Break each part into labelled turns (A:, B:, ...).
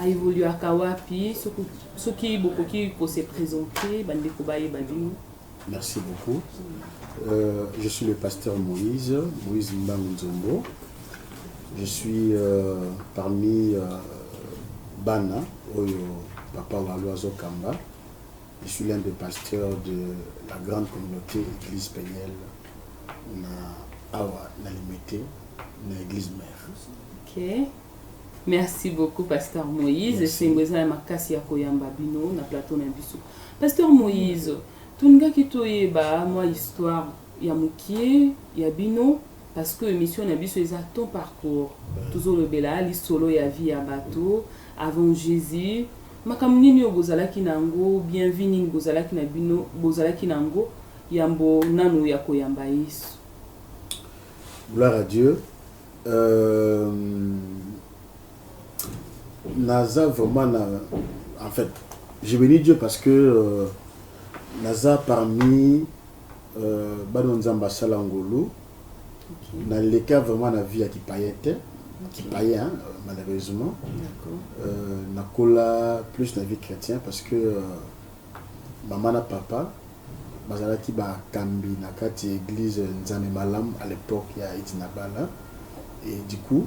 A: A evoluaka wapi soki bokoki ko se presenter ba ndeko bayeba bino. Merci beaucoup.
B: Euh, je suis le pasteur Moïse, Moïse Mbangu Nzombo. Je suis euh, parmi euh, Bana, Oyo, Papa Waloazo Kamba. Je suis l'un des pasteurs de la grande communauté Église Peniel na Awa, na Limete, na Église Mère. Ok. Merci
A: beaucoup pasteur Moïse. Merci. Esengo eza ya makasi ya koyamba bino na plateau na biso. Pasteur Moïse, tolingaki toyeba mwa histoire ya mokie ya bino parce que émission na biso eza ton parcours. Tozolobela lisolo ya vie ya bato avant Jésus. Makambo nini oyo bozalaki na yango, bien vie nini bozalaki na bino, bozalaki na yango yambo nano ya koyamba Yesu.
B: Gloire à Dieu. Euh naza vraiment na en fait je beni Dieu parce que euh, naza parmi euh, bana nzambe asala ngolu okay. naleka vraiment na vie ya kipayen te okay. kipayen hein, euh, malheureusement euh, nakola plus na vie chrétien parce que euh, Mama na papa bazalaki ba kambi na kati ya eglise Nzambe Malam a l'epoque ya Edi na bala et du coup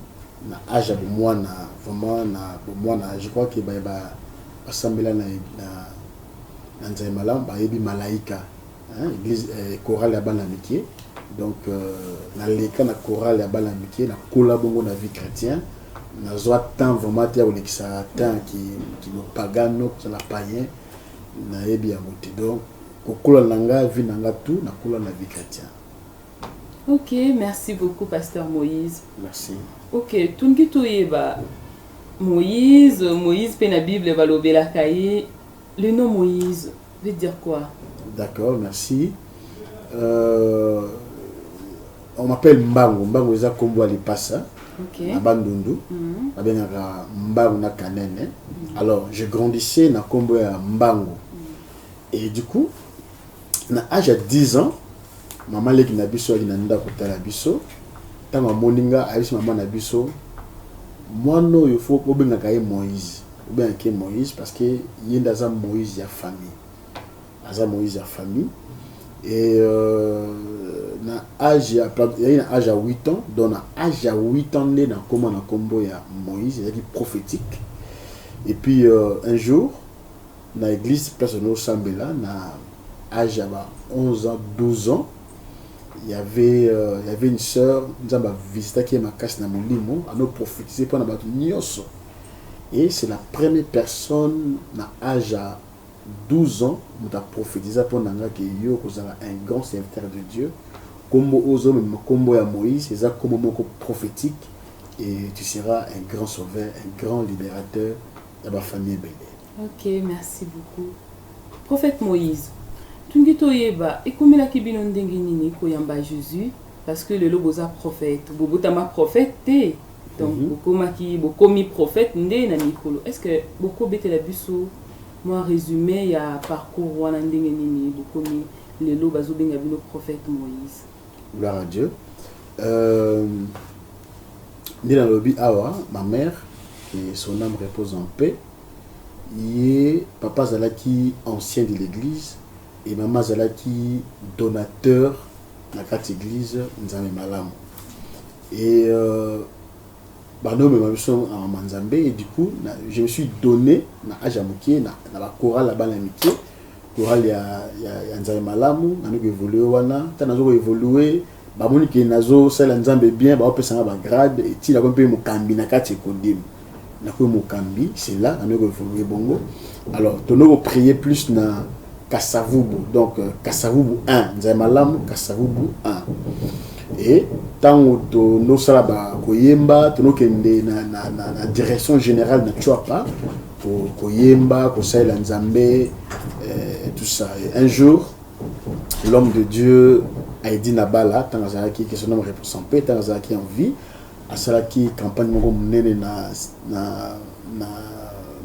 B: na age ya bomuana vraiment na bomuana je crois que baye ba basambela na na Nzambe Malam bayebi malaika hein église euh, chorale ya bana mike donc euh, naleka na chorale ya bana mike nakola bongo na vie chrétienne nazwa temps vraiment te ya kolekisa temps kimopagano ki kozala payen nayebi yango te donc kokola na nga vie na nga tout nakola na vie chrétienne ok
A: merci beaucoup pasteur moïse merci
B: ok tolingi
A: toyeba moïse moïse mpe na bible balobelaka ye Le nom Moïse veut dire quoi? D'accord merci
B: euh, on m'appelle Mbangu Mbangu eza kombo ya lipasa okay. na bandundu mm -hmm. babengaka Mbangu na Kanene mm -hmm. alors je grandissais na kombo ya Mbangu mm -hmm. et du coup na age ya 10 ans mama leki na biso ayaki na ndako kotala biso ntango amoni nga ayebisi mama na biso mwana oyo fo obengaka ye moïse obengaka ye moïse parce que ye nde aza moïse ya famille aza moïse ya famille et euh, na age ya yaki na age ya 8 ans donc na age ya 8 ans nde nakoma na nkombo ya moïse ezalaki prophétique et puis euh, un jour na eglise place olingi osambela na age ya ba 11 ans 12 ans y avait euh, y avait une sœur nzambe avisitaki ye makasi na molimo ano prophétise mpo na bato nyonso et c'est la première personne na age ya 12 ans moto aprophétisa mpo na nga ke yo okozala un grand serviteur de dieu nkombo oyo ozomema nkombo ya moïse eza nkombo moko prophétique et tu seras un grand sauveur un grand libérateur ya bafamille ebele Ok merci
A: beaucoup prophète moise tungi toyeba ekomelaki bino ndenge nini koyamba jesus parce que lelo boza prophète bobotama prophète te donc mm -hmm. bokomaki bokomi prophète nde na mikolo est ce que bokobetela biso mwa resume ya parcours wana ndenge nini bokomi lelo bazobenga bino prophète moise Gloire à Dieu.
B: Euh, nde nalobi awa ma mère que son âme repose en paix ye papa azalaki ancien de l'église et mama azalaki donateur na kati église nzambe malamu et euh, banomema biso na mama nzambe et du coup na, je me suis donné na age ya moke na, na bakorale ya bana ya mike Chorale ya, ya, ya Nzambe malamu, nanu ko evoluer wana. Tango nazo ko evoluer, ba moni ke nazo salela Nzambe bien, bao pesa nga ba grades, etii nakomi mpe mokambi na kati ya Ecodim. Nakomi mokambi, c'est là nanu ko evoluer bongo. Alors, tono ko prier plus na Kasa-Vubu, donc Kasa-Vubu 1, Nzambe malamu, Kasa-Vubu 1. Et tango tono sala ba, ko yemba, tono kende na, na, na, na direction generale na Tshuapa, koyemba kosalela nzambe eh, tout ça un jour l'homme de dieu aidi nabala ntango azalaki que son homme repose en paix ntango azalaki en vie asalaki campagne moko monene na, na, na,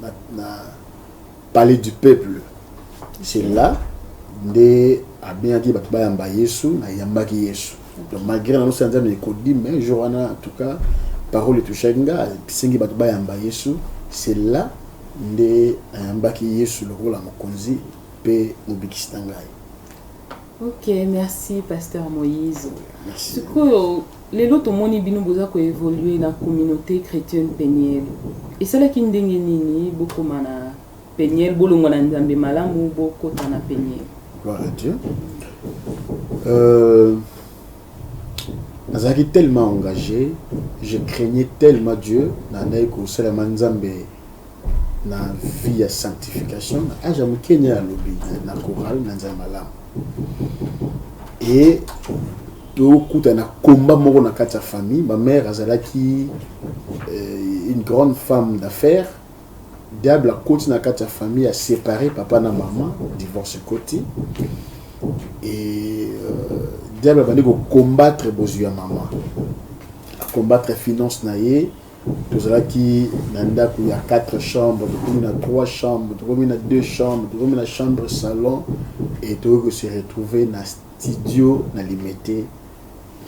B: na, na palais du peuple c'est là nde abengaki bato bayamba yesu nayambaki yesu donc malgré na nosi ya nzambe ekodi mais jour wana en tout cas parole etouchaki nga esengi bato bayamba yesu c'est là nde ayambaki yesu lokola mokonzi mpe mobikisi na ngai
A: ok merci pasteur moïse sikoyo lelo tomoni bino boza koevolue na communauté chrétienne peniele esalaki ndenge nini bokoma na Peniel bolongwa na nzambe malamu bokota na peniel. Gloire à Dieu.
B: Euh, nazalaki tellement engagé je craignais tellement dieu nandaki kosalelama nzambe na vie ya sanctification na age ya moke nde nalobi na coral na nzambe malamu e tokuta na combat moko na kati ya famille ma mère azalaki euh, une grande femme d'affaires Diable akoti na kati ya famille a separe papa na maman divorce ekoti et euh, diable abandi ko combattre bozwi ya maman a combattre finance na ye tozalaki na ndako ya 4 chambre tokomi na 3 chambre tokomi na 2 chambre tokomi na chambre salon et tokoki kose retrouver na studio na limete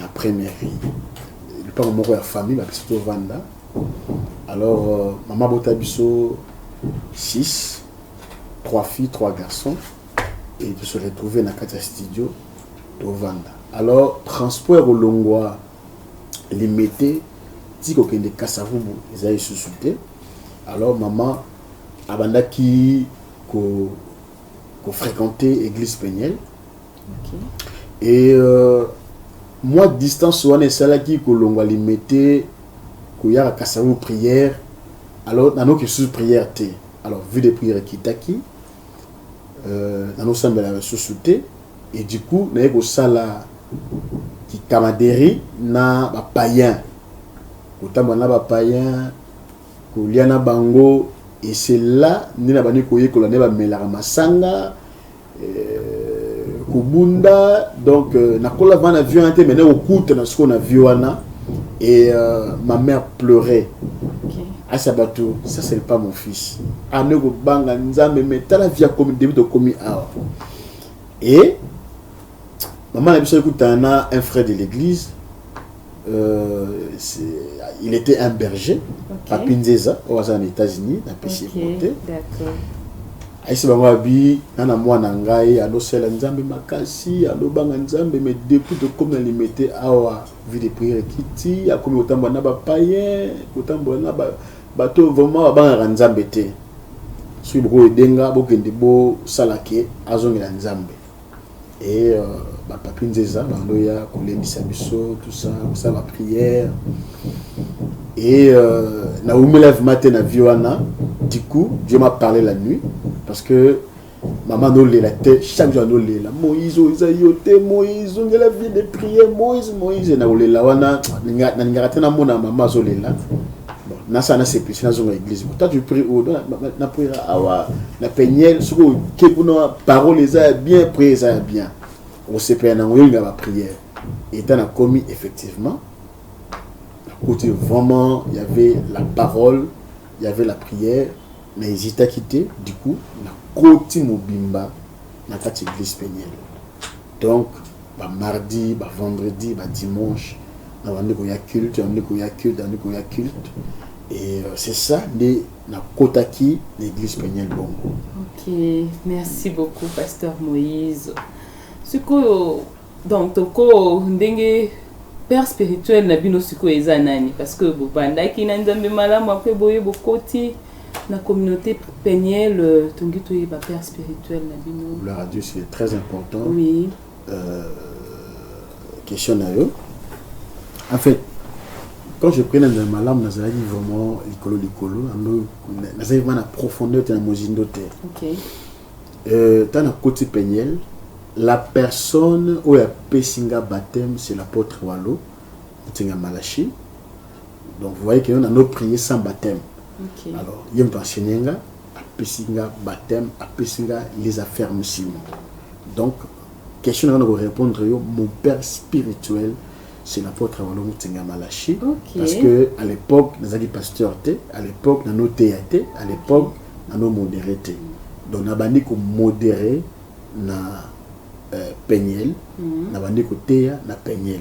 B: na première vie lipango moko ya famille bapesi tovanda Alors euh, maman bota biso 6 3 filles, 3 garçons et de se retrouver na kati ya studio tovanda. Alors transport olongwa limete ti kokende Kasavubu eza lisusu te. Alors maman abandaki ko ko fréquenter église Peniel okay. et euh, mwa distance wana esalaki kolongwa limete koyaka kasango prière alors nanoki lisusu prière te alors vue de prière ekitaki euh, nanosambela lisusu te et du coup naye kosala kikamaderi na bapayen kotambola na bapayen kolia na bango et c'est là nde nabandi koyekola nde bamelaka masanga kobunda donc euh, nakola vana vie wana te mene kokutana sikoyo na vie wana et euh, ma mère pleurait asa bato ça c'est pas mon fils ane ah, kobanga nzambe me tala vie akomi debi tokomi awa et mama na biso ekutana na un frère de l'église Euh, il était un berger okay. papi nzeza oyo aza na états-unis napesi okay. ekote
A: ayesi
B: bango abi na na mwana ngai alosela nzambe makasi alobanga nzambe mais depuis tokomi na limete awa vie de prière ekiti akomi kotambola na bapayen kotambola na bato oyo vraiment babangaka nzambe te soki bokoyede nga bokende bosalake azongela nzambe et euh, ba papi nzeza bandoya kolendisa biso tout ça kosala ba prière et euh, na umela vraiment te na vie wana du coup dieu m'a parlé la nuit parce que maman nolela te chaque jour anolela moïse oyo eza yo te moïse ongela vie de prière moïse moïse na kolela wana nalingaka te namona mama azolela bon nasa na sepisi nazonga église bon toi tu prie où na na prière awa na peniel soki oke kuna parole eza ya bien prière eza ya bien osepela nango yolinga ba prière eta nakomi effectivement nakuti vraiment y avait la parole y avait la prière na hésitaki te du coup nakoti mobimba na kati église peniel donc ba mardi, ba vendredi, ba dimanche na bandi koya culte, bandi koya culte, bandi koya culte et euh, c'est ça nde nakotaki na église Peniel Bongo. Ok,
A: merci beaucoup pasteur Moïse. Sikoyo donc toko ndenge père spirituel na bino sikoyo eza nani parce que bobandaki na Nzambe malamu après boye bokoti La communauté penielle euh, tongi toyeba père spirituel na bino
B: gloire à dieu
A: c'est très
B: important
A: oui
B: euh, question na yo en fait quand je prenais na malamu nazalaki vraiment likolo likolo nazalaki vraiment na profondeur te na mozindo te okay.
A: euh, ntango nakoti
B: penielle la personne oyo apesi nga baptême c'est l'apôtre walo ntinga malachi Donc vous voyez que on a nos prier sans baptême. Okay. Alors,
A: il y a un enseigné
B: nga, apesi nga baptême, apesi nga les affermissements. Donc, question na ko répondre yo mon père spirituel c'est l'apôtre Walongo Tsenga Malachi okay. parce que
A: à l'époque
B: nazaki pasteur te à l'époque nano teya te à l'époque nano modéré te donc nabandi ko modéré na euh, peniel mm -hmm. nabandi ko teya na peniel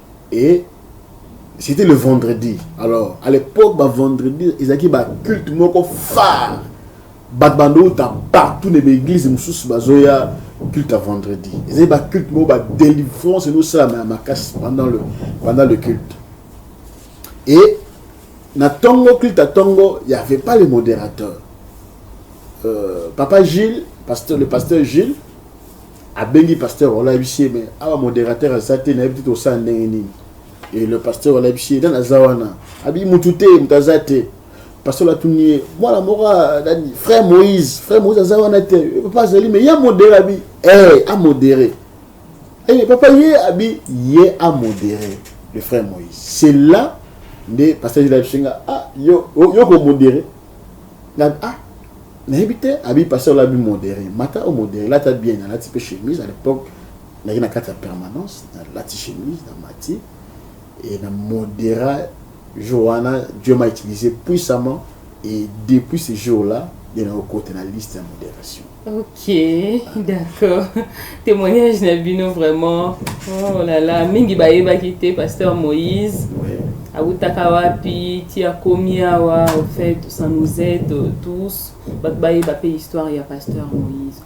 B: et c'était le vendredi alors à l'époque ba vendredi ezalaki ba culte moko phare bato bandouta partout na baeglise mosusu bazoya culte ya vendredi ezali ba culte moko ba délivrance ezosalama ya makasi pendant le, pendant le culte et na ntongo culte ya ntongo y avait pas le modérateur euh, papa gilles pasteur, le pasteur gilles abengi pasteur wala ayebisi ye mais awa modérateur aza te nayebi te tosala ndenge nini e le pasteur wala ayebisi ye nani aza wana abi mutu te moto aza te pasteur atuni ye mwana moko nani frère moïse frère moïse aza wana te eh, papa azali mais ye amodere abi e eh, amodere e eh, papa ye abi ye amodere le frère moïse c'est là nde pasteur ayebisi nga ah yo yo komodere ah nayebi te abi pasteur ola bi modere mata o modere lata bien nalati mpe chemise à l'époque nayaki na kati ya permanence nalati chemise na mati e na modera jour wana dieu m'a utilisé puissamment et depuis ce jour là nde nakokota na liste ya modération ok d'accord
A: Témoignage na bino vraiment. Oh là là, mingi bayebaki te pasteur Moïse. awutaka
B: wapi
A: ti akomi awa au fait ça nous aide tous bato bayeba mpe histoire ya pasteur moïse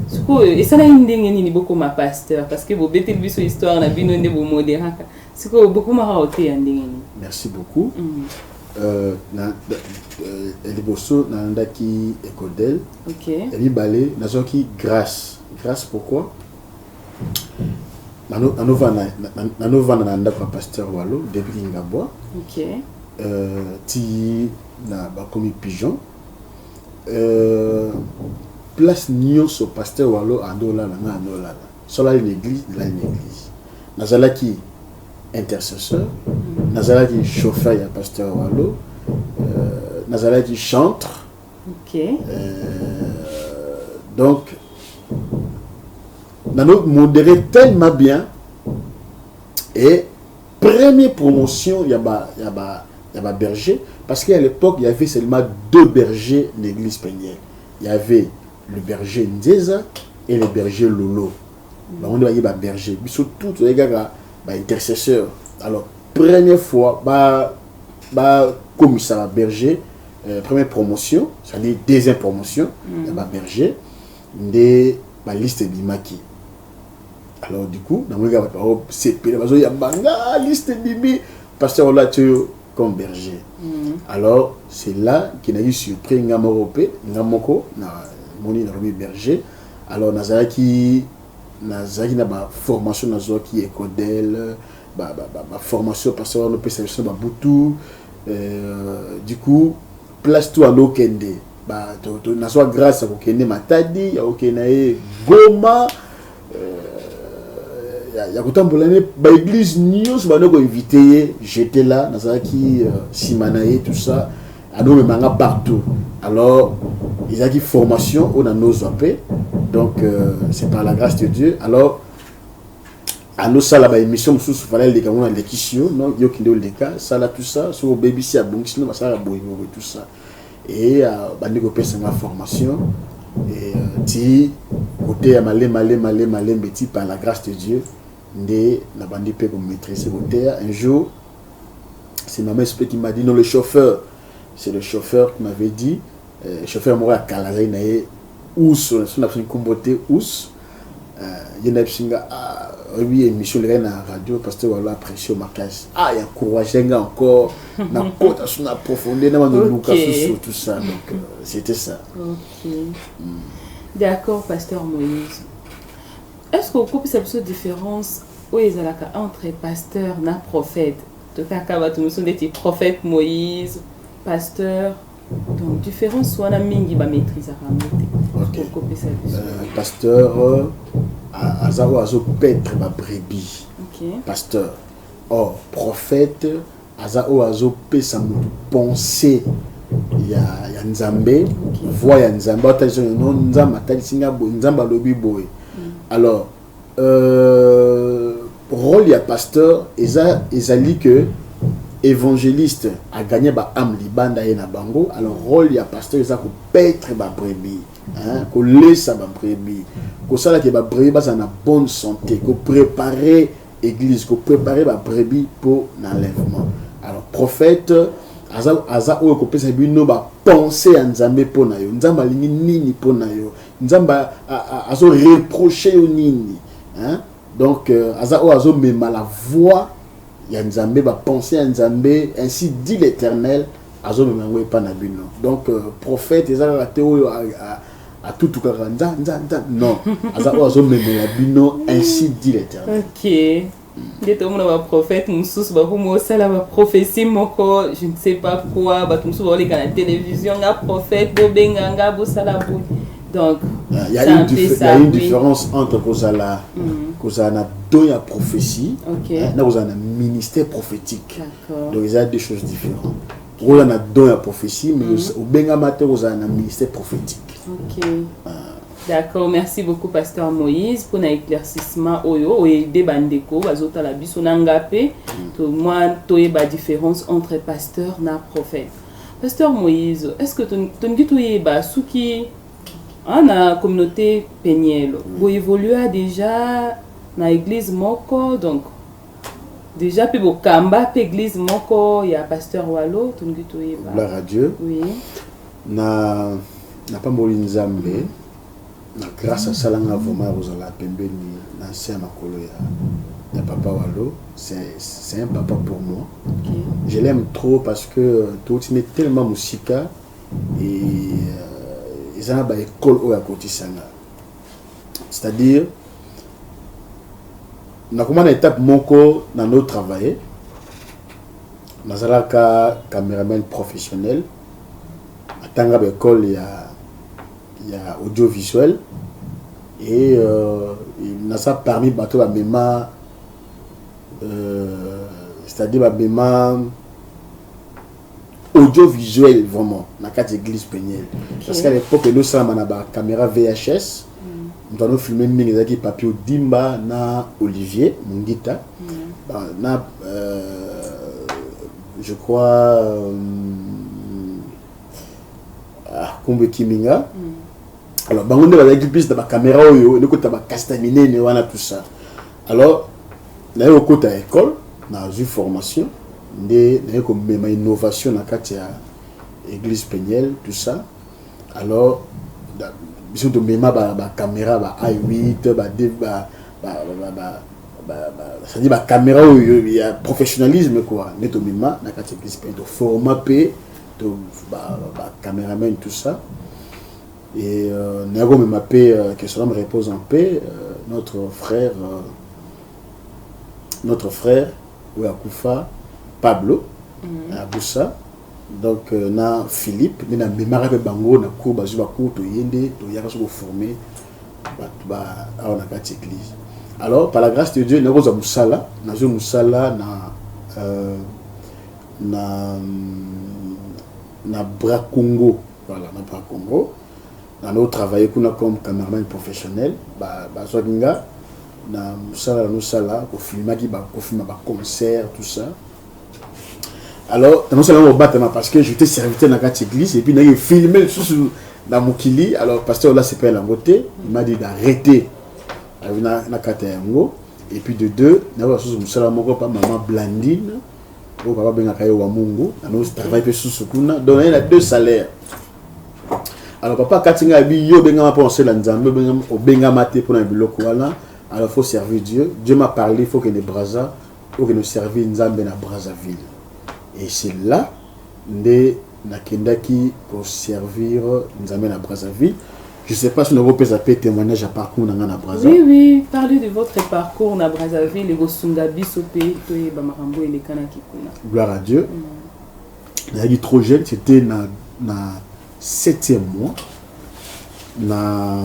A: sikoyo esalaki ndenge nini bokoma pasteur parce que bobeteli biso histoire na bino nde bomoderaka sikoyo bokomaka oteya ndenge nini merci beaucoup mm.
B: Euh, na, euh, liboso nalandaki ekodel okay. ya
A: mibale
B: nazwaki grâce Grace pourquoi nanovanda na ndako ya pasteur walo depuis kingabwa okay. euh, ti na bakomi pigeon euh, place nyonso pasteur walo andolala nga andolala solali na église nalali na église nazalaki intercesseur mm. nazalaki chauffeur ya pasteur walo euh, nazalaki chantre Ok.
A: Euh,
B: donc, nano modéré tellement bien et première promotion il y a ba il y a ba il y a ba berger parce qu'à l'époque il y avait seulement deux bergers l'église penielle il y avait le berger Ndeza et le berger Lolo mm. bango nde baye ba berger biso tout toyaki kaka ba intercesseur alors première fois ba ba komisa ba berger euh, première promotion c'est-à-dire deuxième promotion mm. ya baberger nde baliste ebimaki alors du coup namonaki bato baosepela bazoyamba nga liste ebimi pasteur olati oyo comme berger mm. alors c'est là qui na eu surpris nga moko mpe nga moko namoni nalobi berger alors nazalaki nazalaki na ba formation nazwaki ya ecodel ba, ba, ba, ba formation pasteur wana opesa biso ba butu euh, du coup place tout alo kende ba to, to nazwa grâce ya kokende matadi ya kokende na ye goma euh, ya, ya kotambola ne ba église nyonso bana koinvite ye j'étais là nazalaki euh, nsima euh, na ye tout ça adomema nga partout alors ezalaki formation oyo nanozwa mpe donc euh, c'est par la grâce de dieu alors alosala baémission mosusu fala eleka ngo nalekisi yo no yo kende oleka sala tout ça soki obebisi abongisi no basalaka boyeboye tout ça e euh, bandi kopesa nga formation e euh, ti koteya malema lema lema lembe ti par la grâce de dieu nde nabandi mpe komaîtrise koteya un jour c'est maman esprit qui m'a dit non le chauffeur c'est le chauffeur qui m'avait dit euh, chauffeur moko ya kala azali na ye us na biso nkombo te us euh, ye na biso nga ah, oyebi émission elekaki na radio pasteur walo apprécie makasi ah ya courage nga encore na kota so na profondeur na bandoluka susu tout ça donc euh, c'était ça okay.
A: mm. d'accord pasteur moïse Est-ce que okopesa biso difference oyo ezalaka entre pasteur na prophète tokaka bato mosusu ndeti prophète moïse pasteur donc différence wana mingi bamaîtrisaka yango te okopesa biso euh,
B: pasteur euh, aza oyo azopetre babrebis pasteur or prophète Aza oyo azo pesa mutu pensee ya, ya Nzambe, okay. Voix ya Nzambe, atalisa no Nzambe atalisi nga boye, Nzambe alobi boye. Mm. Alors, euh, rôle ya pasteur eza ezali que évangéliste a gagné ba âme libanda ye na bango. Alors rôle ya pasteur eza ko paître ba brebis, hein, ko laisser ba brebis, ko sala que ba brebis ba na bonne santé, ko préparer Eglise ko preparer ba brebis po na enlèvement. Alors prophète aza aza oyo kopesa bino ba pensée ya Nzambe po na yo. Nzambe alingi nini po na yo? Nzambe azo reprocher yo nini? Hein? Donc euh, aza oyo azo mema la voix ya Nzambe ba pensée ya Nzambe ainsi dit l'Éternel azo mema ngo epa na bino. Donc euh, prophète eza kaka te oyo a, a, a atutukaka nza nza nza non aza oyo azomemela bino ainsi dit l'éternel ok
A: nde tomona baprophète mosusu bakomi osala baprophétie moko je ne sais pas quoi bato mosusu bakoleka na télévision nga prophète bobenga nga bosala boye donc ah, il y a une, dif
B: ça, une oui. différence entre kozala mm -hmm. kozala na don ya prophétie okay. na kozala na ministère prophétique donc eza deux choses différentes oza na don ya prophétie mais mhm. obengama te kozala na ministère prophétique okay.
A: ah. D'accord, merci beaucoup Pasteur Moïse pour l'éclaircissement oyo oyede bandeko bazotala biso na ngape mm. to moi toyeba différence entre pasteur na prophète. Pasteur Moïse, est-ce que tolingi toyeba soki hein, na communauté penielle mm. boyevolua déjà na église moko donc Deja pe bokamba pe eglise moko ya pasteur Walo tolingi toyeba. Gloire à Dieu. Oui. Na
B: na pamboli Nzambe. Mm -hmm. na grâce asala nga vraiment ya kozala pembeni na nse ya makolo ya, ya papa walo c'est un papa pour moi okay. je l'aime
A: trop
B: parce que euh, touti nde tellement mosika e euh, eza na baekole oyo akotisa nga c'est à dire nakoma na étape moko na no travailler nazalaka cameraman professionnel atanga ba école ya ya audiovisuel et euh, naza parmi bato bamema euh, c'est à dire bamema audio visuel vraiment na kati église peniel okay. parce qu'à l'époque edo salama na ba caméra VHS mm. moto filmé mingi ezalaki papier odimba na Olivier Mungita mm. ba, na euh, je crois euh, ah, Kumbe Kiminga mm. alors bango nde bazalaki plus na ba caméra oyo elekota ba casta minene wana tout ça Alors naye kokota ecole nazwi formation nde naye komema innovation na kati ya église penielle tout ça alors biso tomema bacaméra ba, ba i8 ba, ba, ba, ba, ba c'est-à-dire bacaméra oyo ya professionnalisme quoi nde tomema na kati ya église penielle toforma mpe bacaméraman tout ça Et euh, Nago me m'appelle, euh, que son âme repose en paix, euh, notre frère, euh, notre frère, Ouakoufa, Pablo, mm -hmm. à Boussa, donc euh, na Philippe, mais na Memara pe Bango, na cours, bazu ba cours, to yende, to yaka soko formé, ba, ba, awa na kati église. Alors, par la grâce de Dieu, na roza musala, na zo musala, na, euh, na, na Bracongo, Voilà, na Bra Congo. Na no travailler kuna comme cameraman professionnel. Ba ba zwaki nga na musala na sala ko filmaki ba ko filma ba concert tout ça. Alors, na sala ko batama parce que j'étais serviteur na kati église et puis na filmer sous na mokili. Alors pasteur là c'est pas la beauté, il m'a dit d'arrêter. Na na kata yango et puis de deux na ba sous musala moko pa maman Blandine oyo papa abengaka ye wamungu travail mpe susu kuna donc naye na deux salaire alors papa akati ngai abi yo obengama mpo osela nzambe obengama te mpo na biloko wana alors faut servir dieu dieu m'a parlé faut kende braza okende servir nzambe na brazzaville et c'est là nde Nakendaki ko servir Nzambe na Brazzaville. Je sais pas si nako pesa pe temoignage ya parcours na nga na Brazza. Oui, oui, parlez de
A: votre parcours na Brazzaville et kosunga biso pe toyeba makambo elekanaki kuna. Gloire à Dieu.
B: Mm. Nayaki trop jeune, c'était na na septième mois na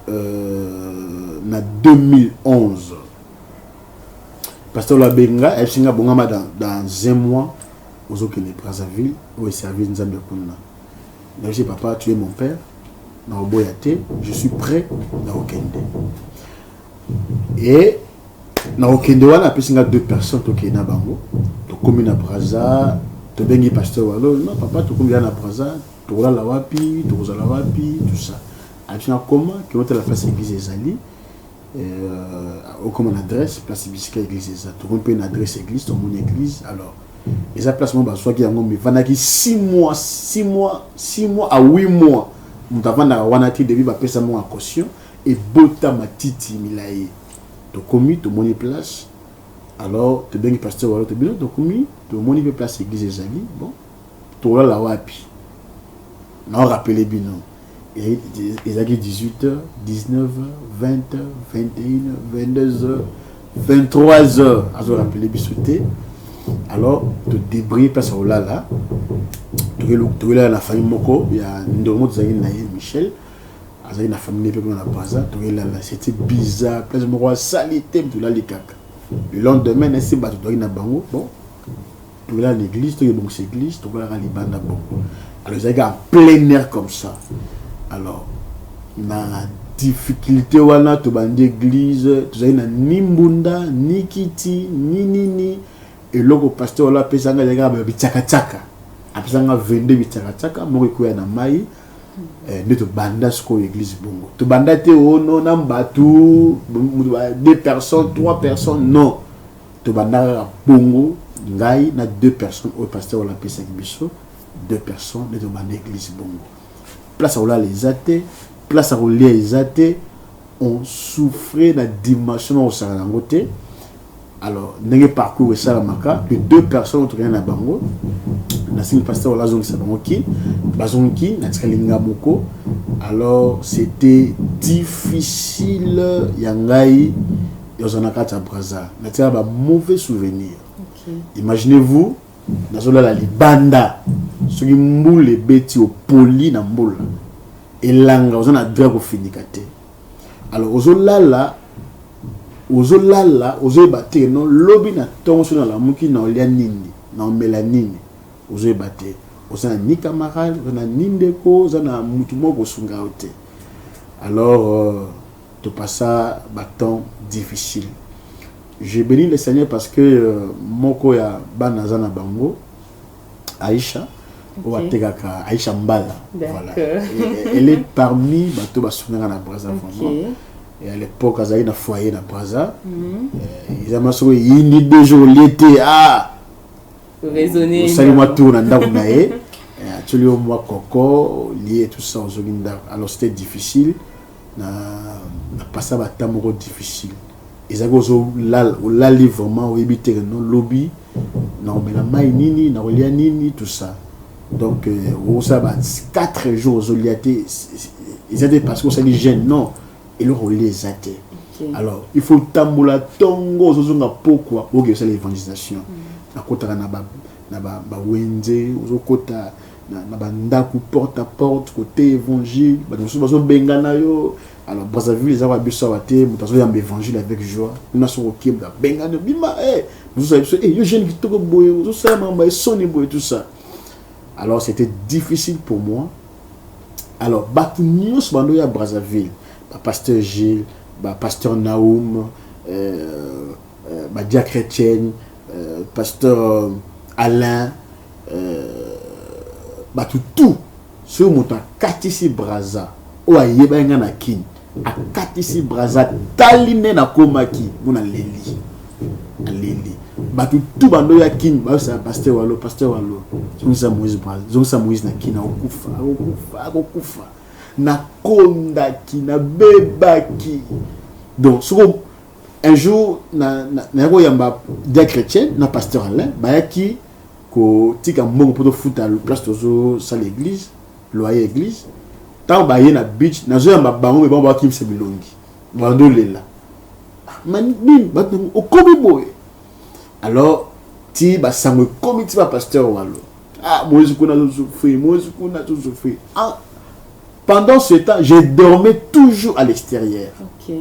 B: euh, na 2011 Pasteur Labenga, Epsinga Bongama dans, dans un mois, ozokende Brazzaville, oyo servir Nzambe ya kuna. Mais je papa, tu es mon père, na oboya te, je suis prêt na okende. Et na okende wana apesi nga deux personnes tokende na bango, tokomi na Brazza, tobengi pasteur walo, non papa tokomi na Brazza, tokolala wapi, tokozala wapi, tout ça. Apesi nga comment, kino tala place église ezali, Euh, okoma na adresse place bisika église eza tokomi mpe na adresse église tomoni église alors eza place moko bazwaki yango mivandaki 6 mois 6 mois 6 mois à 8 mois moto avandaka wana te depuis bapesa moko ya caution ebota matiti milai tokomi tomoni place alors tobengi pasteur walo to bino tokomi tomoni mpe place église ezali bon tolala wapi naorapele bino Ezalaki 18 heures, 19 heures, 20 heures, 21 heures, 22 heures, 23 heures. Azo rappeler biso te. Alors, to débrouiller place ya kolala. Tokelala na famille moko ya ndeko moko tozalaki na ye Michel. azalaki na famille mpe na braza toyelala c'était bizarre place moko asali te tolali kaka le lendemain nasi bato toyaki na bango bon tolela na église toye bongisa église tokolaka libanda bongo alors ezalaki en plein air comme ça alors na difficulté wana tobandi église tozali na ni mbunda ni kiti ni nini eloko pasteur wala apesanga ezalaki kaka babitiakatiaka apesanga 22 bitiakatiaka moko ekoya na mai eh, nde tobanda sikoyo église bongo tobanda te ono oh, na bato deux personnes trois personnes non Tobandaka kaka bongo ngai na deux personnes oyo pasteur oyo apesaki biso deux personnes nde tobanda eglise bongo place akolala eza te place akolia eza te on souffrait na dimension nakosaka yango te alors ndenge parcours esalamaka les deux personnes oyo tokenda na bango nasengi pasteur oyo azongisa bango ki bazongi ki natikali nga moko alors c'était difficile ya ngai Yoza na kati ya Brazza, na tia ba mauvais souvenirs. Okay. Imaginez-vous, nazolala libanda soki mbula ebeti opoli na mbula elanga oza na droit kofinika te alors ozolala ozolala ozoyeba te no lobi na ntongo soki nalamuki na olya nini na omela nini ozoyeba te oza na ni camarade oza na ni ndeko oza na motu moko kosunga yo te alors euh, To passa ba temps difficile. Je beni le seigneur parce que moko ya bana aza na bango Aisha oyo atekaka Aisha Mbala voilà. Elle est parmi bato basungaka na Brazza vraiment. Et à l'époque azalaki na foyer na Brazza. Eza mwa soko eyindi deux jours olie te ah
A: osali mwa tour na
B: ndako na ye atyoli yo mwa koko olie tout ça ozongi ndako alors c'était difficile Na na passa ba temps moko difficile. Ezalaki ozo lala olali vraiment oyebi te que non lobi nakomela mayi nini nakolia nini tout ça. Donc euh, osala ba 4 jours ozolia te eza te parce que osali jeune non eloko olia eza te. Alors il faut otambola tongo ozozonga pokwa oke osala evangelisation. Mm. Nakotaka na ba na ba, ba wenze ozokota na bandako porte à porte kote évangile bato mosusu bazobengana yo alors brazzaville eza kwa biso awa te moto azoyamba évangile avec joie kuna soki okebla abengani obima e mosusu ya biso e yo jeune kitoko boye ozosala makambo ya soni boye tout ça alors c'était difficile pour moi alors bato nyonso bando ya brazzaville bapasteur gilles bapasteur naum euh, euh, Badia Chrétienne, euh, Pasteur euh, Alain, euh, bato tout soki moto akatisi braza oyo ayebaki ngai na kin akatisi braza tali nde nakomaki mpo naleli aleli bato tu bando ya kin bayosala paster walo paster walo zongisa moise braza zongisa moise na kin akokufa akokufa akokufa nakondaki nabebaki donc soko un jour na na na ko yamba dia chrétien na pasteur Alain bayaki ko tika mbongo poto futa le place tozo sala église loyer église tant baye na beach nazo yamba bango mais bango ba kimse bilongi bando lela ah, man nini bato okomi boye alors ti ba sango ekomi ti ba pasteur walo ah moise kuna zo souffrir moise kuna zo souffrir ah pendant ce temps je dormais toujours à l'extérieur okay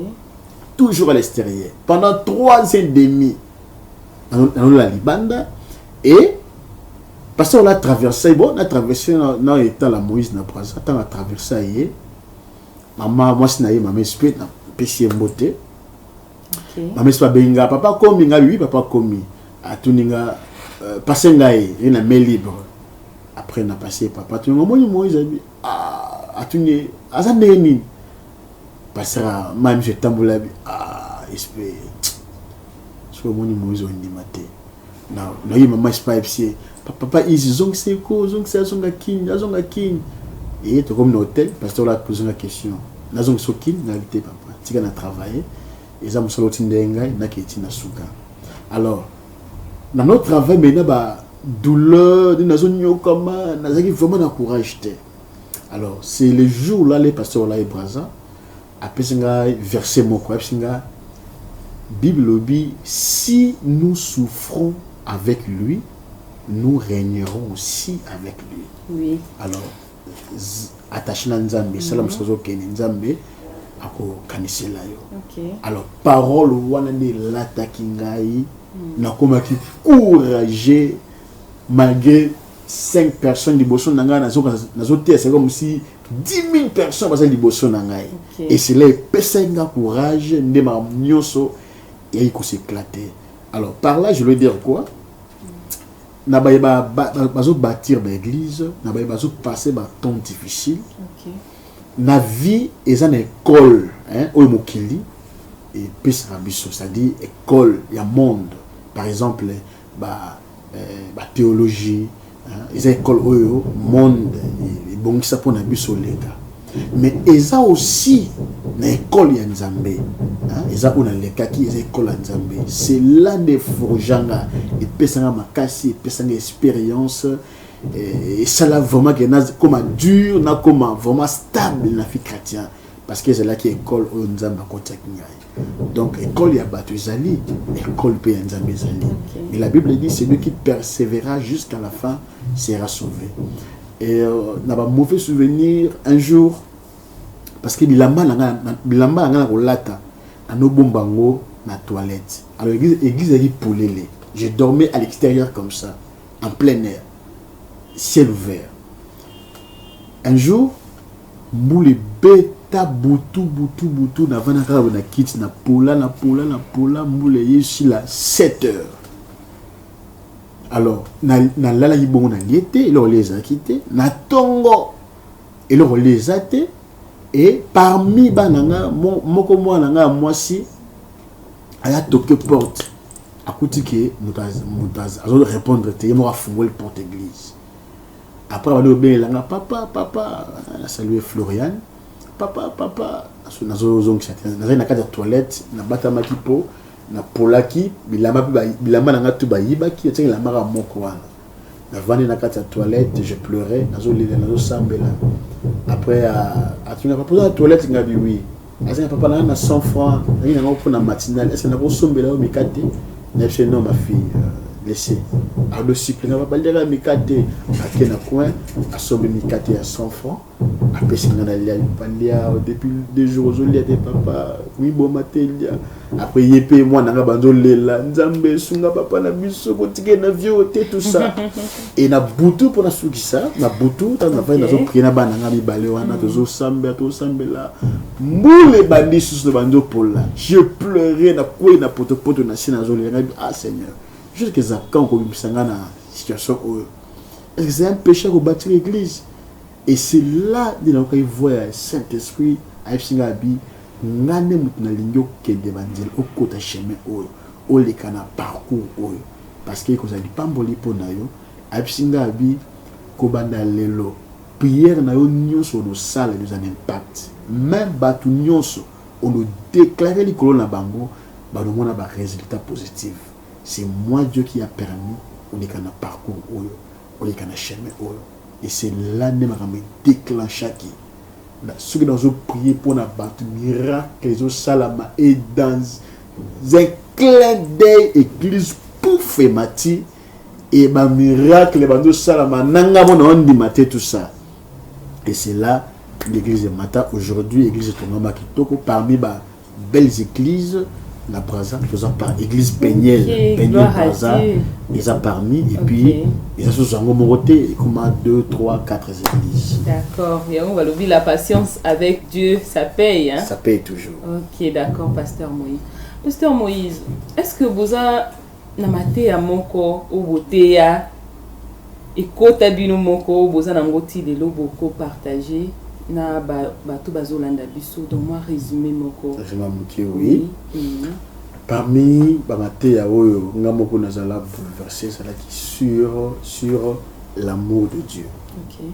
B: toujours à l'extérieur pendant trois ans et demi nalola libanda et parce qu'on a traversé bon na traversé na état la moïse na braza ntango atraverse ye mama mwasi na ye mama espe napesi ye mbote mama espe abengi nga papa akomi nga bibi papa akomi atuni nga euh, pase ngai ye na main libre après na pase papa atuni nga omoni moïse atuni aza ndenge nini pasaka mai miso etambola ah, espe soki omoni moise ondima te naye mama espa epse papa izi zongisa eko zongisa azonga kini azonga kini eye tokomi na hotel pasteur ola pose nga question nazongisa okini nayaki te papa tika na travaille eza mosala otindele ngai naketi na suka alors na no travail mai na ba douleur nde nazonyokama nazalaki vraiment na courage te Alors c'est le jour là les pasteurs là et Brazza apesi nga verset moko apesi nga Bible lobi si nous souffrons avec lui nous régnerons aussi avec lui. Oui. Alors attaché na Nzambe, mm -hmm. sala musazo kene Nzambe akokanisela yo. Okay. Alors
A: parole
B: wana nde elataki ngai mm. nakomaki courage malgré 5 personnes liboso na ngai nazoka nazoteya seko mosi 10000 personnes baza liboso na ngai okay. et cela epesaki nga courage nde makambo nyonso eyaki koseklate alors par là je veux dire quoi na baye bazobâtir baeglise na baye bazopasse batemp difficile okay.
A: na
B: vie eza na ekole oyo mokili epesaka biso c'est-à-dire ekole ya monde par exemple ba ba theologie eza ecole oyo monde ebongisa mpo na biso leka mais eza aussi na ecole ya nzambe eza oyo nalekaki eza ecole ya nzambe cela nde forjanga epesanga makasi epesanga expérience eh, esala vraiment ke nakoma dur nakoma vraiment stable na fi chrétien parce que ezalaki ecole oyo nzambe akotiaki ngai Donc, école ya batu ezali, école pe ya Nzambe ezali. Okay. Mais la Bible dit, celui qui persévéra jusqu'à la fin sera sauvé. Et euh, na ba mauvais souvenir, un jour, parce que bilamba na nga, bilamba na nga na kolata, ano bomba ngo na toilette. Alors, église, église ali polele. Je dormais à l'extérieur comme ça, en plein air, ciel ouvert. Un jour, Mbula ebeta butu butu butu na vanda kaka na kiti na pola na pola na pola mbula eye esila 7 heures alors nalalaki bongo na lie te eloko lie ezalaki te na tongo eloko lie eza te e parmi bana nga moko mwana nga ya mwasi aya toke porte akuti ke moto azo répondre te ye moko afungoli porte église Après abandi kobelela nga papa papa na salue Florian papa papa nazozongisa te nazali na kati ya toilette nabatamaki mpo napolaki bilamba mpe bilamba na nga tu bayibaki etiaki elambaka moko wana navandi na kati ya toilette je pleurais nazolela nazosambela après euh, atunaka mpoza na toilette ngabi wi aza na papa na na 100 francs nalingi nango mpo na matinale ese nakosombela yo mikate na biso non ma fille euh, laisse ardo suplinga babaliaka mikate ake na coin asombi mikate ya 100 francs apesi nga na lia balia depuis deux jours ozolia te papa miboma te lia Après ye pe mwana nga banzo lela nzambe sunga papa na biso botike na vieux te tout ça. Et na butu pona sukisa na butu tango nafai nazo prier na bana nga mibale wana tozo sambela tozo sambela mbule bandi susu banzo pola. Je pleurais na kwei na poto poto na si nazo lela ngai ah Seigneur. Jusqu'à quand ko bimisa nga na situation oyo. Est-ce que c'est un péché ko bâtir église? Et c'est là nde nayokaki voix ya Saint Esprit ayebisi ngai abi ngai nde mutu nalingi okende ba nzela okota chemin oyo oleka na parcours oyo parce que ekozala lipamboli mpo na yo ayebisi ngai abi kobanda lelo prière na yo nyonso onosala ekozala na impact meme batu nyonso ono declare likolo na bango banomona ba resultat positif c'est moi Dieu qui a permis oleka na parcours oyo oleka na chemin oyo Et c'est là nde makambo e declenchaki soki nazo prier pona batu miracle ezo salama et dans un clin d'oeil eglise pouf emati et ba miracle bazo salama nanga mona ondima te tout ça et c'est là l'église emata aujourd'hui église etongama kitoko parmi ba belles eglises na Brazza toza par église Peniel okay, Peniel Brazza eza parmi et okay. puis eza sous yango moko te ekoma 2 3 4 églises d'accord yango
A: balobi la patience avec Dieu ça paye hein? ça paye toujours ok
B: d'accord
A: pasteur Moïse pasteur Moïse est-ce que boza Na mateya moko oyo boteya, ekota bino moko oyo boza na ngo ti lelo boko partager na ba batu bazo landa biso donc mwa resume moko. Resume ya mukie oui.
B: Parmi ba mateya oyo nga moko nazala bouleverse ezalaki sur sur l'amour de Dieu. Ok.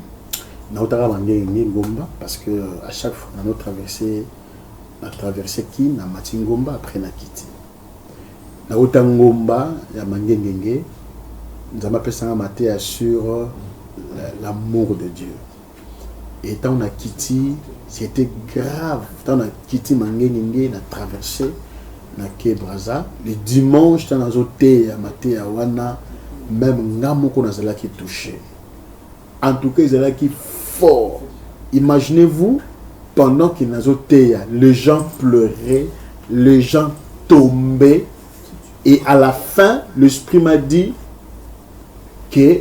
A: Nautaka
B: ba ndenge nini ngomba parce que à chaque fois nano traverse na traverse kin na mati ngomba après na kiti. Nawuta ngomba ya mangengenge nzambe apesa nga mateya sur l'amour de Dieu et ntango na kiti c'était grave ntango na kiti mangengenge na traverse na ke braza le dimanche ntango nazoteya mateya wana meme nga moko nazalaki touche En tout cas ezalaki fort. Imaginez-vous pendant que nazo teya, les gens pleuraient, les gens tombaient et à la fin l'esprit m'a dit que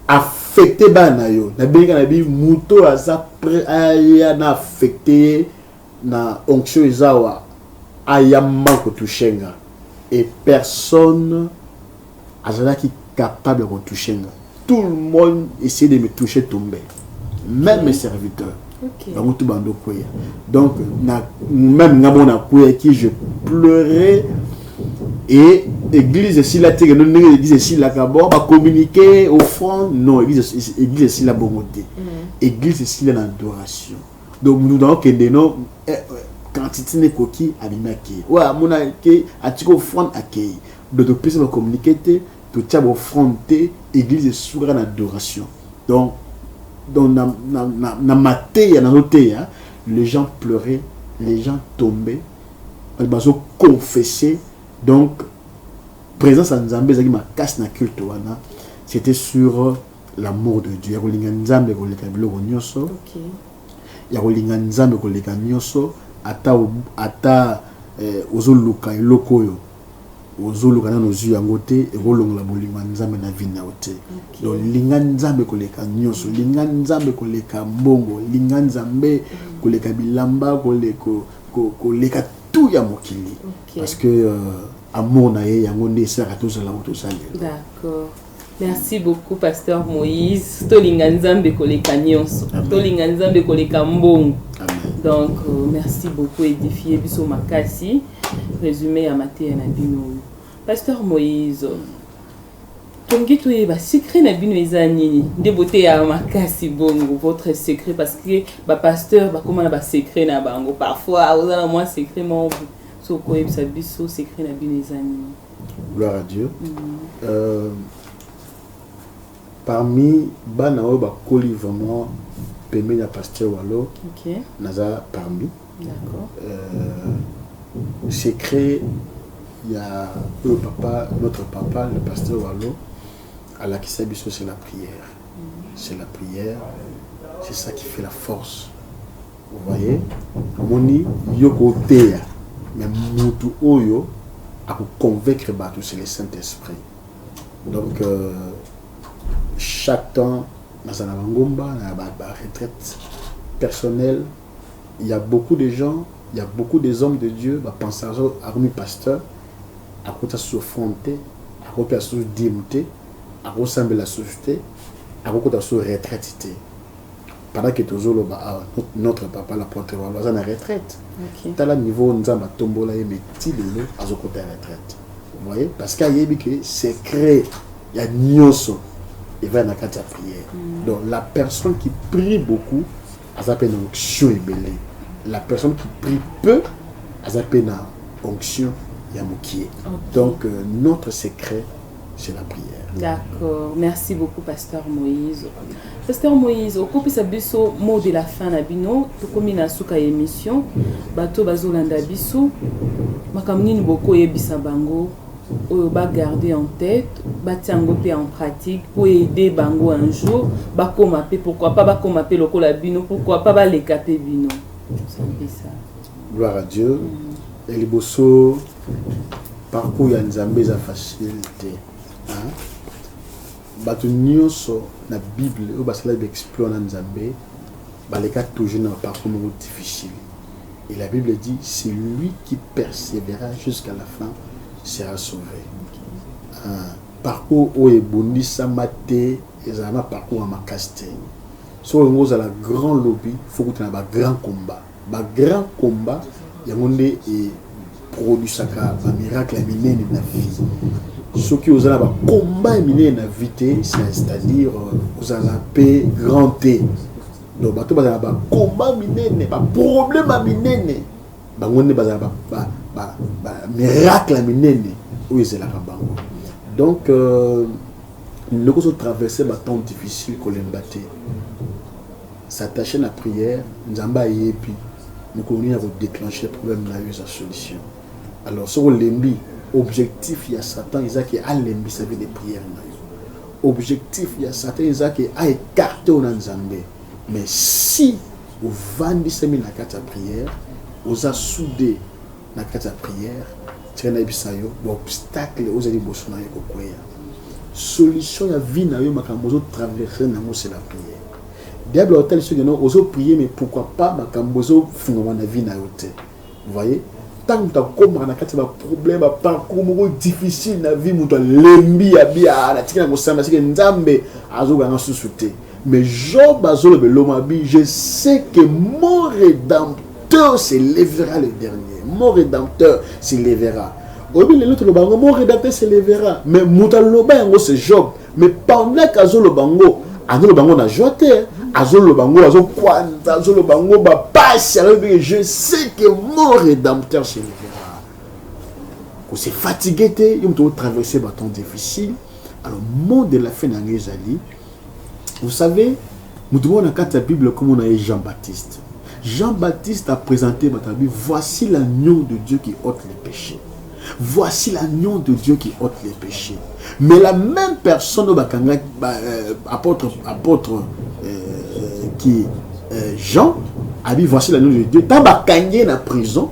B: affecté bana yo na benga na bi muto aza prêt aya na affecté na onction ezawa ayamba ko toucher nga et personne azalaki capable ya ko toucher nga tout le monde essayer de me toucher tomber même mes serviteurs okay. bango tout bando kweya donc na, même nga moko nakweyaki je pleurais et église esila te kendo ndenge église esilaka bo bacommuniquer offrande non église église esila bongo te mm. église esila na adoration donc nous avons que des noms eh, eh, quantité n'ekoki abimaki oyo amonaki atiki offrande akei Donc topesa ba communique te, totia ba offrande te, eglise esuki kaka na adoration. Donc donc na na na, na mateya nazo teya, les gens pleuraient, les gens tombaient, bato bazo confesser. Donc présence ya Nzambe ezalaki makasi na culte wana. C'était sur l'amour de Dieu, ya kolinga Nzambe koleka biloko nyonso. Okay. Ya kolinga Nzambe koleka nyonso ata ata eh, ozoluka eloko oyo ozoluka nanu ozwi yango te ekolongola bolingo ya nzambe na vie na yo te donc linga nzambe koleka nyonso mm. linga nzambe koleka mbongo linga nzambe mm. koleka bilamba koleka tout ya mokili parce que euh, amour na ye yango nde esalaka tozala oyo tozali
A: merci beaucoup pasteur moïse tolinga nzambe koleka nyonso tolinga nzambe koleka mbongo donc euh, merci beaucoup édifie biso makasi résumé ya mateya na bino oyo pasteur moïse tolingi toyeba secret na bino eza nini nde boteya makasi bongo votre secret parce que bapasteur bakóma na basecret na bango parfois oza na mwa secret moko sokoyebisa biso secret na bino eza nini Gloire à Dieu. Mm
B: -hmm. euh, parmi bana oyo bakoli vraiment pembeni ya pasteur walo okay. naza
A: parmi
B: euh, secret ya oyo papa notre papa le pasteur walo alakisa biso c'est la prière mm. c'est la prière c'est ça qui fait la force Vous voyez? Omoni yo ko teya mais mutu oyo a ko convaincre batu c'est le Saint-Esprit. Donc euh, chaque temps nazala na ngomba na ba, ba retraite personnelle il y a beaucoup de gens il y a beaucoup des hommes de Dieu ba penseurs akomi pasteur akota sofrone te akopia susu dime te akosambela susu te akokota susu retraite te pendant que tozoloba awa notre papa la pointe walo aza na retraite okay. tala niveau nzambe atombola ye mais ti lelo azokota ya retraite voyez parce que ayebi que secret ya nyonso eva na kati ya prière mm. donc la personne qui prie beaucoup aza mpe na onction ebele la personne qui prie peu aza mpe na onction ya mokie okay. donc euh, notre secret c'est la prière. D'accord. Merci
A: beaucoup, Pasteur Moïse. Pasteur Moïse, au copie biso mot de la fin na bino, tout comme na suka émission, bato bazolanda biso, makamnini boko yebisa bango, oyo ba garder en tête, ba tiango pe en pratique pour aider bango un jour, ba koma pe pourquoi pas ba koma pe lokola bino, pourquoi pas ba leka pe bino. C'est ça. Gloire à Dieu.
B: Mm. Ya liboso parcours ya Nzambe eza facile te. Bato nyonso na Bible oyo basalaki exploit na Nzambe baleka toujours na parcours moko difficile. Et la Bible dit celui qui persévéra jusqu'à la fin sera sauvé. Ah, parcours oyo ebundisama te ezala na parcours ya makasi te. Soki olingi ozala grand lobi, faut kuta na ba grand combat. Ba grand combat yango nde e produisaka ba miracle ya minene na vie soki oza na ba combat ya minene na vie te c'est-à-dire euh, ozala pe grand te donc bato bazala ba combat minene ba problème ya minene bango nde bazala ba, ba, ba, ba miracle ya minene oyo ezelaka bango donc euh, ndeko ozotraverse batemps difficile kolemba te S'attacher na prière, Nzambe ayebi mokolo nini ako declencher problème na yo eza solution. Alors soki olembi, objectif ya Satan eza ke alembisa vie de prière na yo. Objectif ya Satan eza ke a écarter yo na Nzambe. Mais si ovandisami na kati ya prière, oza soude na kati ya prière, tika nayebisa yo ba obstacle ozali liboso na yo ekokweya. Solution ya vie na yo makambo ozo traverser nango c'est la prière. Diable au tel sujet non ozo prier mais pourquoi pas makambo ozo fungwa na vie na yo te. Vous voyez? Tant que koma na kati ba problème ba parcours moko difficile na vie mutu lembi ya bia na tikana ko samba sike nzambe azo ganga susu te. Mais Job azo le lomabi je sais que mon rédempteur se lèvera le dernier. Mon rédempteur se lèvera. Obi le l'autre bango mon rédempteur se lèvera mais mutu loba yango c'est Job. mais pendant que azoloba yango azoloba yango na joie te azoloba yango azokwanza azoloba yango bapasi alobi je sais que mon rédempteur se levera kose fatigue te yo moto otraverse batemps difficile alors mot de la fin na yango ezali vous savez moto moko na kati ya bible komona ye jean baptiste jean baptiste a présenté bato abi voici l'agneau de dieu qui ôte les péchés Voici l'agneau de Dieu qui ôte les péchés. Mais la même personne au Bakanga, bah, euh, apôtre, apôtre euh, euh, qui euh, Jean, a dit voici l'agneau de Dieu. Tant Bakangé dans la prison,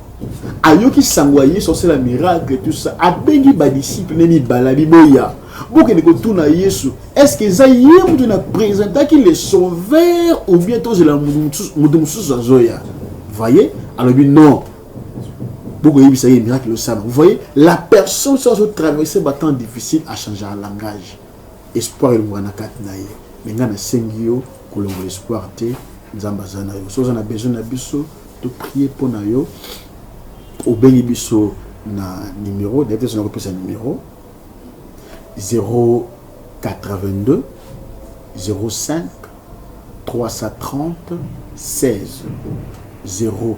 B: ayoki sango aye sorcela miracle tout ça abengi badisciple ne mibala biboya bokende kotuna yesu est ce que eza ye moto na présentaki le sauveur ou bien tozela moto mosusu azoya voye alobi non Boko yebisa ye miracle osala. Vous voyez, la personne soit au traverser ba temps difficile a changer un langage. Espoir il na kati na ye. Mais nga na sengi yo kolongo espoir te. Nzambe aza na yo. Soza na besoin na biso to prier mpo na yo. Obengi biso na numéro, d'ailleurs te sona kopesa numéro 082 05 330 16 0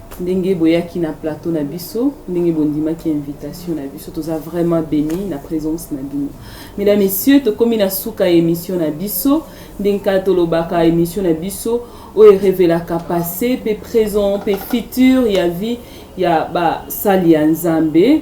A: ndenge boyaki na plateau na biso ndenge bondimaki invitation na biso toza vraiment béni na présence na bino mesdames messieurs tokomi na suka ya émission na biso ndenge kaka tolobaka émission na biso oyo erevelaka passé mpe présent mpe futur ya vie ya basali ya nzambe